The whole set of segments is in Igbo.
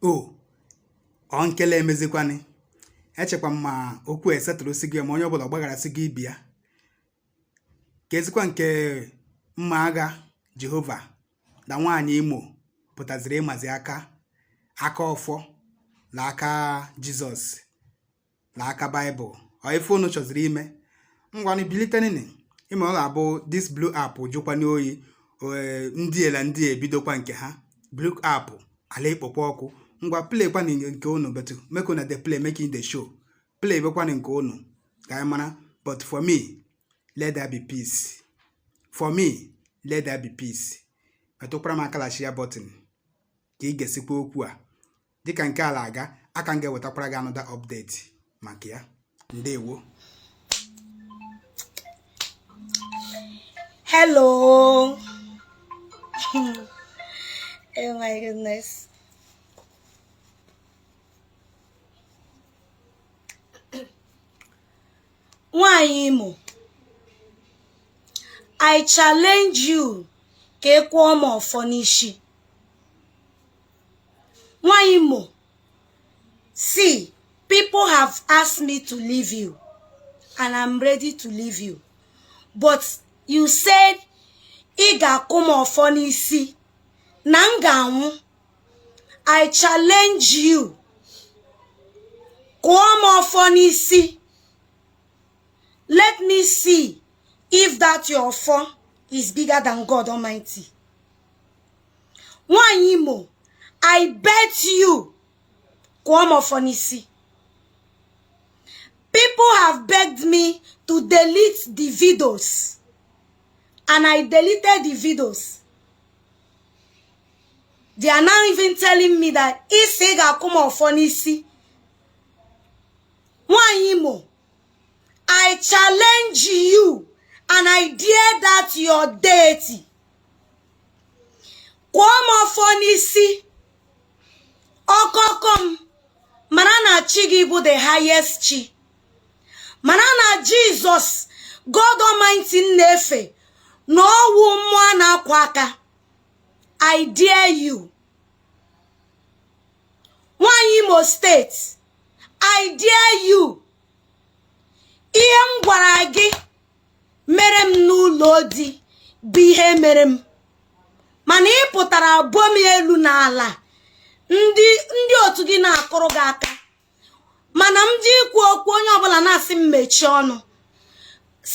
o ọ nkele emezikwanị echekwa m ma okwu esetụrụ si gị ma onye ọbụla gbaghara si gị ibi ya ka ezikwa nke mma agha jehova na nwaanyị imo pụtaziri ịmazi aka aka ọfọ na aka jizọs na aka baịbụl ọ ife unu chọziri ime ngwanụ bilitenini ịma ọ ga-abụ this blue app jụkwanụ oyi ndị ela ndị ebidokwa nke ha blue app ala ikpokwa ọkụ ngwa play kwanụ nke unu but make una dey play making the show play bekwanụ nke unu ka anyị mara but for me let there be peace for me let there be peace metụkwara m aka la share button ka i gesikwa okwu a dịka nke ala aga aka m ga-ewetakwara gị another update maka ya ndewo hello oh my goodness nwanyị imo i challenge you ka ị kụọ m ọfọ n'ishi nwaanyị Imo see people have asked me to leave you and I'm ready to leave you but you said ị ga-akụ m ọfọ n'isi na m ga-anwụ I challenge you kụọ m ọfọ n'isi let me see if that your ọfọ is bigger than God Almighty nwaanyị imo i bet you kụọ m ọfọ n'isi people have begged me to delete the videos and i deleted the videos they are now even telling me that ị sị ị ga-akụ m ọfọ n'isi nwaanyị imo i challenge you and i dare that your deity kụọ m ọfọ n'isi ọkọkọ m mara na chi gị bụ the highest chi mara na jizọs god almighty m na-efe na ọ wụ mmụọ a na-akwụ aka i dare you nwanyị imo state i dare you ihe m gwara gị mere m n'ụlọ di bụ ihe mere m mana ị pụtara bọọ m elu na ala ndị otu gị na-akụrụ gị aka mana m jee ikwu okwu onye ọbụla na-asị m mechie ọnụ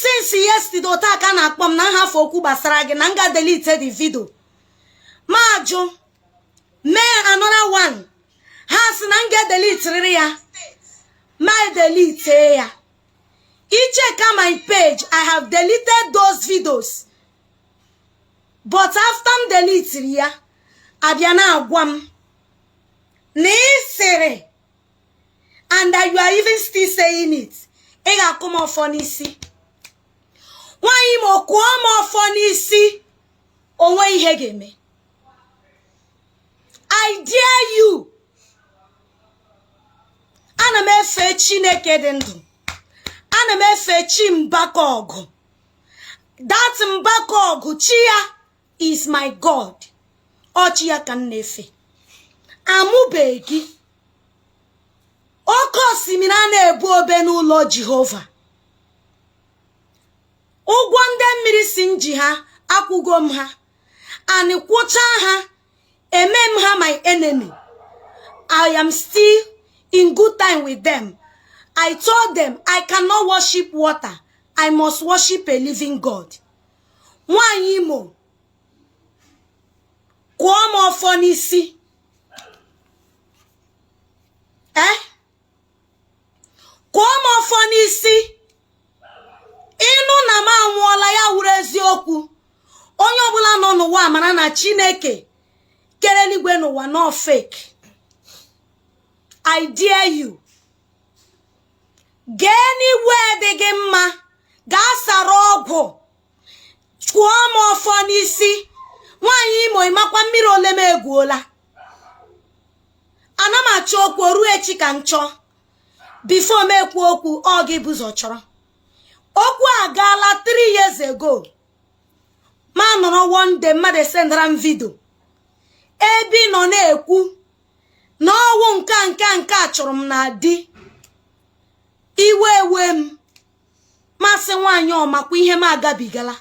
since yesterday otu a ka a na-akpọ m na m hafụ okwu gbasara gị na m gaa delete the video m ajụ mee another one ha sị na m ga-edelitiriri ya m edelite ya i cheka my page i have deleted those videos but after m delitiri ya a bịa na-agwa m na ị sịrị and that you are even still saying it ị ga-akụ m ọfọ n'isi nwaanyị imo kụọ m ọfọ n'isi o nweghị ihe ga-eme I dare you ana m efe chineke dị ndụ ana m efe chi mbaka ọgụ that mbaka ọgụ chi ya is my god ọ chi ya ka m na-efe a mụbeghị gị oke osimiri a na-ebu obe n'ụlọ jehova ụgwọ ndị mmiri sị m ji ha akwụgo m ha and kwụchaa ha eme m ha my enemy i am still in good time with them i told them i cannot worship water i must worship a living god nwanyị imo kụọ m ọfọ n'isi eh kụọ m ọfọ n'isi ị nụ na m anwụọla ya wụrụ eziokwu onye ọbụla nọ n'ụwa mara na chineke kere eluigwe na ụwa na ọ fake i dare you gaa anywhere dị gị mma gaa sara ọgwụ kụọ m ọfọ n'isi nwaanyị imo ị makwa mmiri ole m egwuola ana m achọ okwu o ruo echi ka m chọọ before m ekwu okwu ọ gị bu ụzọ chọrọ okwu a gaala 3 years ago m anọrọ one day mmadụ esendara m video ebe ị nọ na-ekwu na ọ wụ nke a nke a nke a chụrụ m na di iwe ewe m m asị nwaanyị ọ makwa ihe m agabigala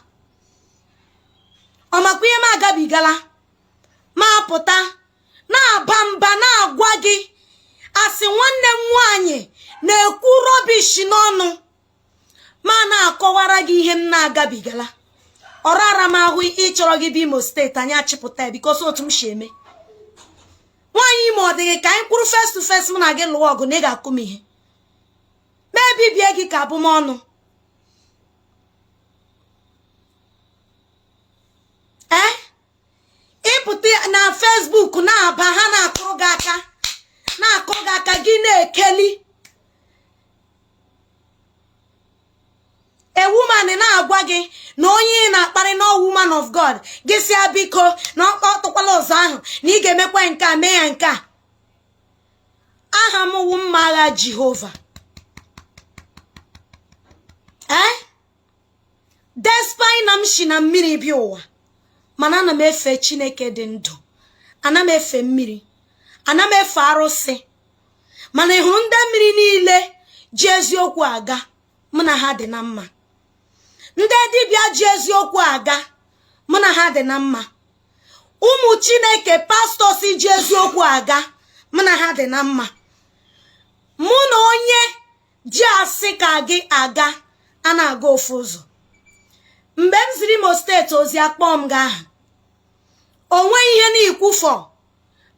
ọ makwa ihe m agabigala m apụta na-aba mba na-agwa gị asị nwanne m nwaanyị na-ekwu rubbish n'ọnụ m ana-akọwara gị ihe m na-agabigala ọ rara m ahụ ịchọrọ gị bịa imo state anyị achịpụta ya because otu m si eme nwaanyị imo ọ dị gị ka anyị kwụrụ face to face m na gị lụwa ọgụ na ị ga-akụ m ihe ma ebibie gị ka abụmọnụ ee eh? ị pụta na Facebook na-aba ha na-akụrụ gị aka na-akụrụ gị aka gị na-ekeli a woman na-agwa gị na onye ị na-akparị na woman of God gị sị ya biko na ọ kpọtụkwala ụzọ ahụ na ị ga-emekwa nke a mee ya nke a aha m wụ mma agha jehova ee eh? despite na m si na mmiri bịa ụwa mana ana m efe chineke dị ndụ ana m efe mmiri ana m efe arụsị mana ị hụrụ ndị mmiri niile ji eziokwu aga mụ na ha dị na mma ndị dibịa ji eziokwu aga mụ na ha dị na mma ụmụ chineke pastors ji eziokwu aga mụ na ha dị na mma mụ na onye ji asị ka gị aga a na-aga ofu ụzọ mgbe m ziri imo steeti ozi akpọ m gị aha o nweghị ihe na-ekwu fọ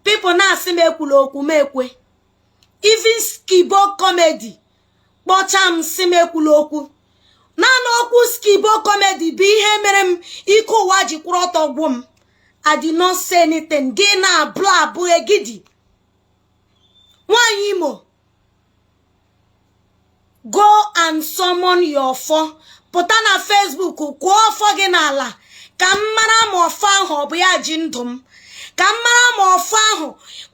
people na-asị m ekwula okwu m ekwe even skibo comedy kpọcha m sị m ekwula okwu naanị okwu skibo comedy bụ ihe mere m ike ụwa ji kwụrụ ọtọ gwụ m I did not say anything gị na-abụ abụ egidi nwanyị imo go and summon your ọfọ pụta na Facebook kụọ ọfọ gị n'ala ka m mara ma ọfọ ahụ ọ bụ ya ji ndụ m ka m mara ma ọfọ ahụ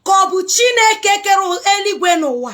ka ọ bụ Chineke kere eluigwe na ụwa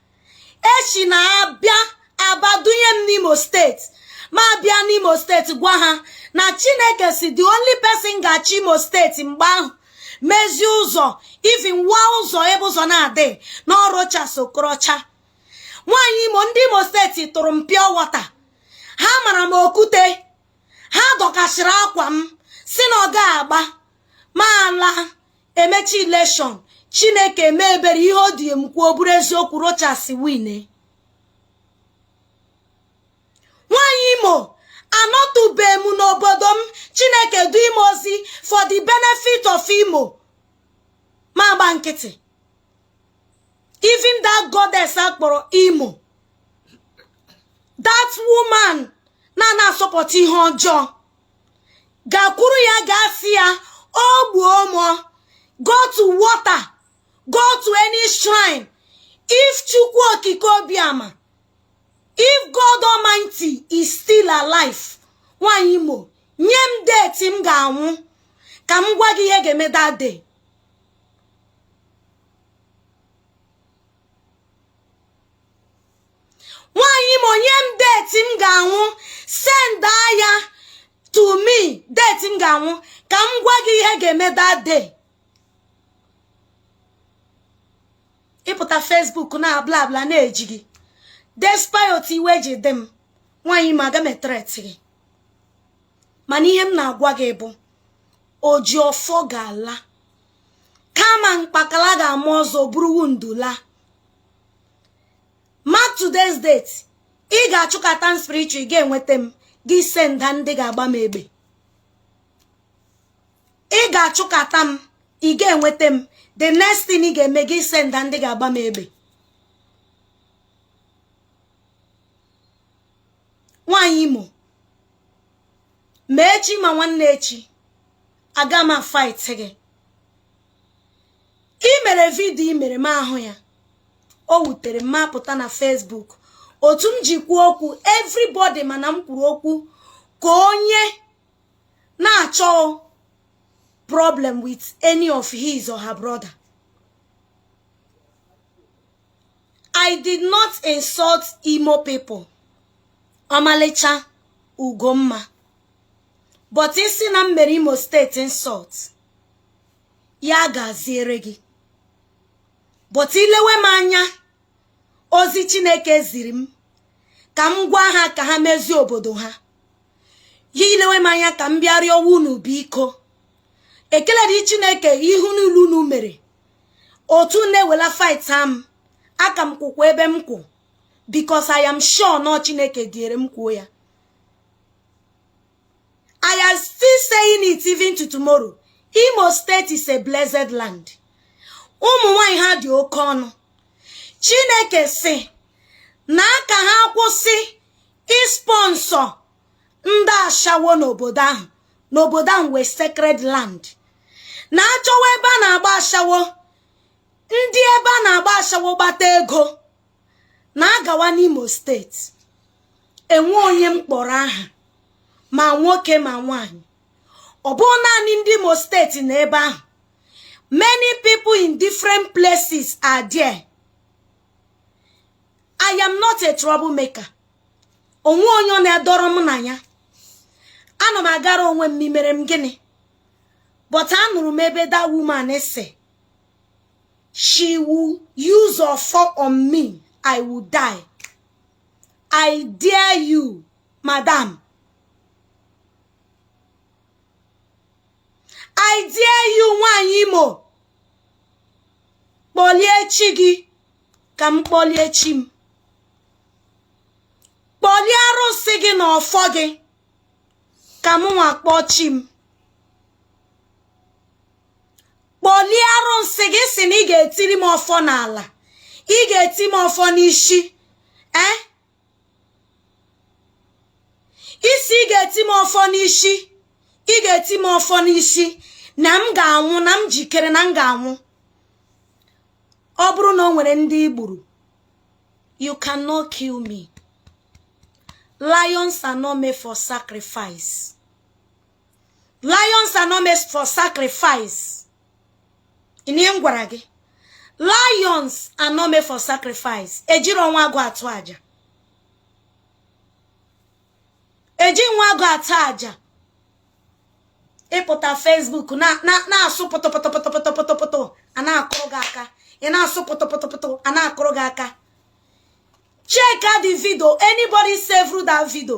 echi na-abịa Abba dunye m n'imo steeti ma abịa n'imo steeti gwa ha na chineke sị the only person ga-achị imo steeti mgbe ahụ mezie ụzọ even wa ụzọ ebe ụzọ na-adị na ọ Rochas Okorocha nwaanyị imo ndị imo steeti tụrụ m pure water ha mara m okwute ha dọkasịrị akwa m sị na ọ ga-agba m ala emecha election chineke emee ebere ihe o du m kwuo bụrụ eziokwu rochas wine nwanyị imo anọtụbe m n'obodo m chineke du m ozi for the benefit of imo ma agba nkịtị even that goddess akpọrọ imo that woman na-ana asọpụta ihe ọjọọ gakwuru ya gaa sị ya o gbuo mụ o go to water go to any shrine if chukwu okike obiama if god almighty is still alive nwanyị imo nye m date m ga-anwụ ka m gwa gị ihe ga-eme that day nwaanyị Imo nye m deti m ga-anwụ send ya to me deti m ga-anwụ ka m gwa gị ihe ga-eme that day ị pụta Facebook na bla bla na-eji gị despite otu iwe ji dị m nwaanyị Imo aga m etret gị mana ihe m na-agwa gị bụ oji ọfọ ga-ala kama mkpakala ga-ama ozu ọ bụrụ udela mark today's date ị ga-achụkata m spiritual ị ga-enweta m gị senda ndị ga-agba m egbe ị ga-achụkata m ị ga-enweta m the next thing ị ga-eme gị senda ndị ga-agba m egbe nwaanyị Imo ma echi ma nwanne echi aga m fight gị i mere vidio i mere m ahụ ya o wutere m m apụta na Facebook otu m ji kwuo okwu everybody ma na m kwuru okwu ka onye na-achọ problem with any of his or her brother I did not insult Imo people ọmalịcha Ugomma but i si na m mere Imo steeti insult ya gaziere gị but i lewe m anya ozi chineke ziri m ka m gwa ha ka ha mezie obodo ha ya i lewe m anya ka m bịa rịọ unu biko ekele dịrị Chineke ihe niile unu mere otu na-ewela fight am aka m kwụkwa ebe m kwụ because I am sure na ọ Chineke diere m kwuo ya I am still saying it even to tomorrow Imo steeti is a blessed land ụmụ nwanyị ha dị oke ọnụ Chineke sị na ka ha kwụsị ịspọnsọ ndị ashawo n'obodo ahụ n'obodo ahụ wụ a sacred land na a chọwa ebe a na-agba ashawo ndị ebe a na-agba ashawo gbata ego na a gawa n'Imo steeti e nwe onye m kpọrọ aha ma nwoke ma nwanyị ọ bụ naanị ndị Imo steeti na ebe ahụ many people in different places are there I am not a troublemaker o nwe onye ọ na-adọrọ m na ya ana m agara onwe m mere m gịnị but anụrụ m ebe that woman sị she will use ọfọ on me I will die i dare you madam i dare you nwanyị imo kpọlie chi gị ka m kpọlie chi m kpọlie arụsị gị na ọfọ gị ka m nwa kpọọ chi m kpọlie arụsị gị sị na ị ga-etiri m ọfọ n'ala ị ga-eti m ọfọ n'isi ee eh? isi ị ga-eti m ọfọ n'isi ị ga-eti m ọfọ n'isi na m ga-anwụ na m jikere na m ga-anwụ ọ bụrụ na o nwere ndị i gburu you cannot kill me lions are not made for sacrifice lions are not made for sacrifice ị nụ ihe m gwara gị lions are not made for sacrifice ejirọ nwa agụ atụ aja eji nwa agụ atụ aja ị pụta facebook na-asụ pụtụpụtụpụtụpụtụpụtụ a na-akụrụ gị aka ị na-asụ pụtụpụtụpụtụ a na-akụrụ gị aka check out the video anybody save that video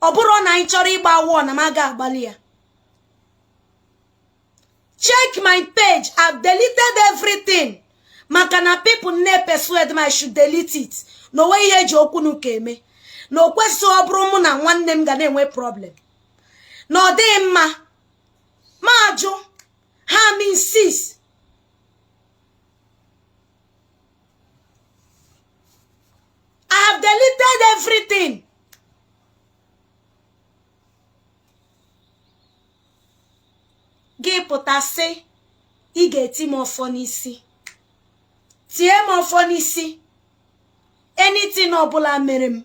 ọ bụrụ na anyị chọrọ ịgba war na m aga agbalị ya check my page I've deleted everything maka na people na-epersuade m I should delete it na o nwe ihe eji okwu na ụka eme na o kwesịghị ọ bụrụ mụ na nwanne m ga na-enwe problem na ọ dịghị mma m ajụ ha m insist I have deleted everything. gị pụta sị ị ga-eti m ọfọ n'isi tie m ọfọ n'isi anything ọbụla mere m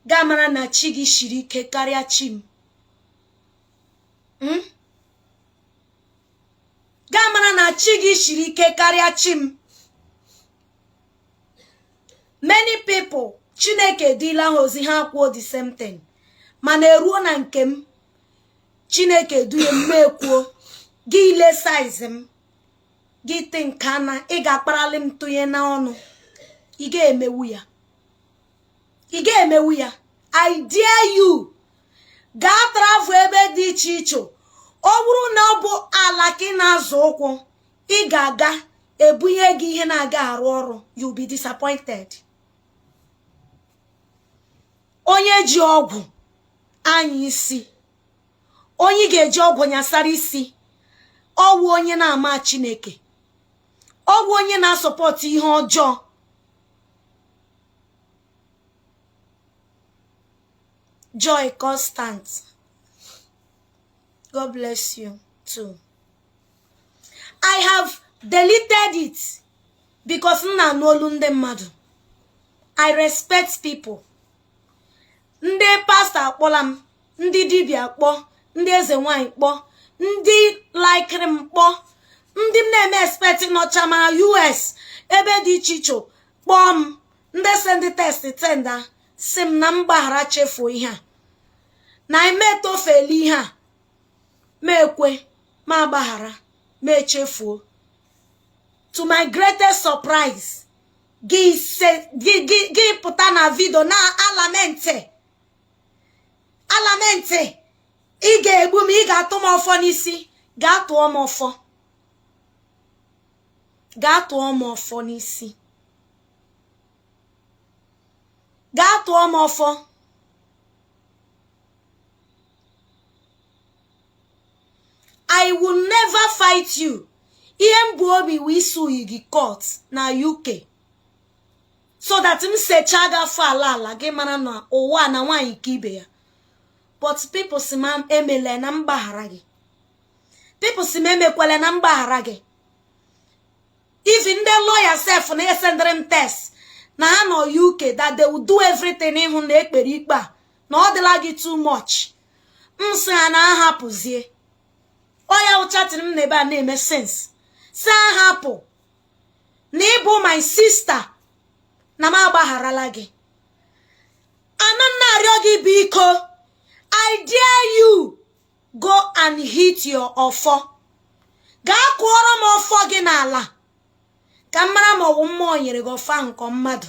gị amara na chi gị shiri ike karịa chi m hmm? gị amara na chi gị shiri ike karịa chi m many people chineke edila ha ozi ha kwuo the same thing mana e ruo na nke m chineke duye m m ekwuo gị ele size m gị think na ị ga-akparali m tụnye n'ọnụ ị ga-emewu ya ị ga-emewu ya i dare you gaa travel ebe dị iche iche ọ bụrụ na ọ bụ ala ka ị na-azọ ụkwụ ị ga-aga ebunye gị ihe na-aga arụ ọrụ you be disappointed onye ji ọgwụ anya isi onye ga-eji ọgwụ nyasara isi ọ wụ onye na-ama chineke ọ wụ onye na-asupport ihe ọjọọ joy constant god bless you too i have deleted it because m na-anụ olu ndị mmadụ i respect people ndị pastor akpọla m ndị dibịa kpọ ndị eze nwanyị kpọ ndị likiri m kpọ ndị m na-eme expect nọcha ma us ebe dị iche iche kpọọ m ndị sendị text tenda sị m na m gbaghara chefuo ihe a na i metofele ihe a m ekwe m agbaghara m echefuo to my greatest surprise gị pụta na video na-alamenti alamenti ị ga-egbu m ị ga-atụ m ọfọ n'isi gaa tụọ m ọfọ gaa tụọ m ọfọ n'isi gaa tụọ m ọfọ i will never fight you ihe m bu obi wụ isue gị court na uk so that m secha gị afọ ala ala gị mara na ụwa na nwaanyị ka ibe ya but people sị m emele na m gbaghara gị people sị m emekwele na m gbaghara gị even ndị lawyer sef na-esendịrị m text na ha nọ uk that they will do everything ịhụ na e kpere ikpe a na ọ dịla gị too much m sị ha na a hapụzie ọ ya ụchatịrị m na ebe a na-eme sense sị a hapụ na ị bụ my sister na m agbagharala gị ana m na-arịọ gị biko i dare you go and hit your ọfọ gaa kụọrọ m ọfọ gị n'ala ka m mara ma ọ wụ mmụọ nyere gị ọfọ ahụ nke mmadụ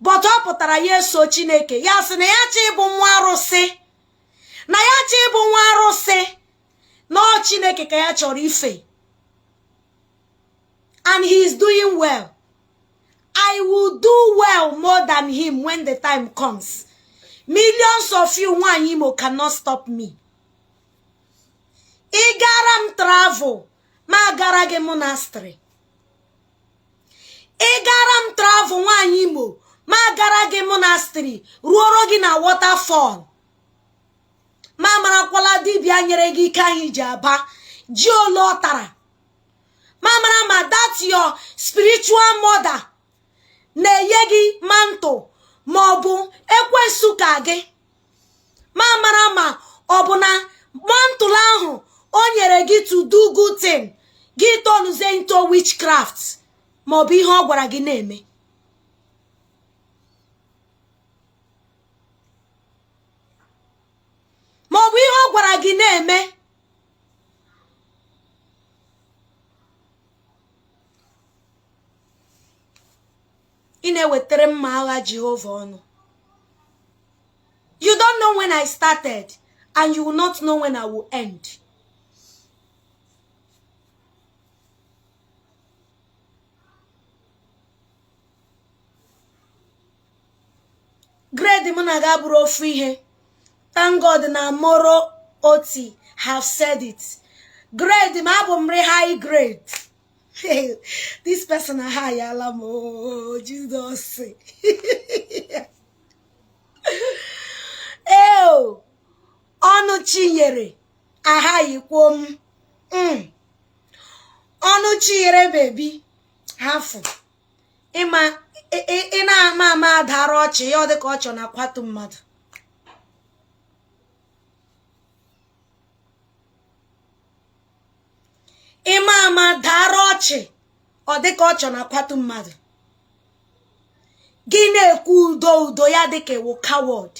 but ọ pụtara ya eso chineke ya sị na ya achọ ịbụ nwa arụsị na ya achọ ịbụ nwa arụsị na ọ chineke ka ya chọrọ ife and he is doing well i will do well more than him when the time comes millions of you nwanyị imo cannot stop me ị gara m travel m agara gị monastery ị gara m travel nwaanyị imo m agara gị monastery ruoro gị na waterfall ma marakwala dibịa nyere gị ike ahụ i ji aba ji ole ọ tara ma mara ma that your spiritual mother na-enye gị mantle ma ọ bụ ekwensu ka gị ma mara ma ọ bụ na mantle ahụ o nyere gị to do good thing gị turnuzie into witchcraft ma ọ bụ ihe ọ gwara gị na-eme ma ọ bụ ihe ọ gwara gị na-eme ị na-ewetere mma agha Jehova ọnụ you don't know when I started and you will not know when I will end grade m na gị abụrọ ofu ihe thank God na moro oti have said it grade m a bụ very high grade Hey, this person ahighyala m oh, Jizọs ee ọnụ chinyere ahighkwo m hmm. ọnụ chinyere baby hafụ ịma ị na-ama ama adara ọchị ya ọ dịka ọchị na-akwatu mmadụ ịma ama dara ọchị ọ dịka ọchị na-akwatu mmadụ gị na-ekwu udo udo ya dịka ị wụ coward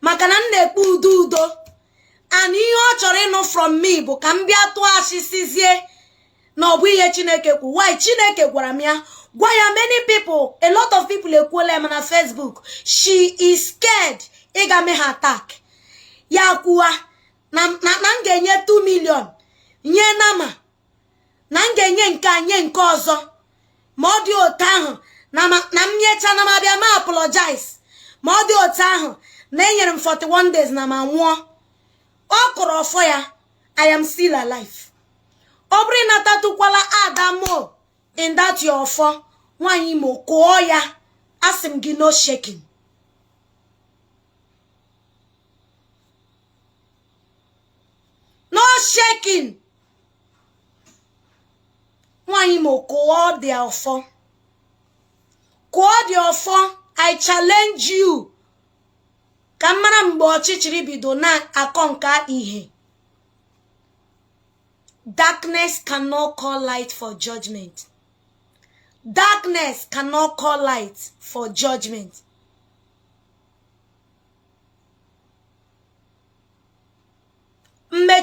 maka na m na-ekwu udo udo and ihe ọ chọrọ ịnụ from me bụ ka m bịa tụọ asị sịzie na ọ bụ ihe chineke kwu why chineke gwara m ya gwa ya many people a lot of people ekwuola m na facebook she is scared ịga mee ha attack ya kwuwa na m ga-enye 2 million nye nama na m ga-enye nke a nye nke ọzọ ma ọ dị otu ahụ na m nyecha na m abịa ma apologize ma ọ dị otu ahụ na enyere m 41 days na m anwụọ ọ kụrụ ọfọ ya i am still alive ọ bụrụ ịnatatụkwala adamo in that your ọfọ nwaanyị imo kụọ ya asị m gị no shaking no shaking nwaanyị imo kụọ the ọfọ kụọ the ọfọ i challenge you ka m mara mgbe ọchịchịrị bido na-akọ nke ihe darkness cannot call light for judgment darkness cannot call light for judgment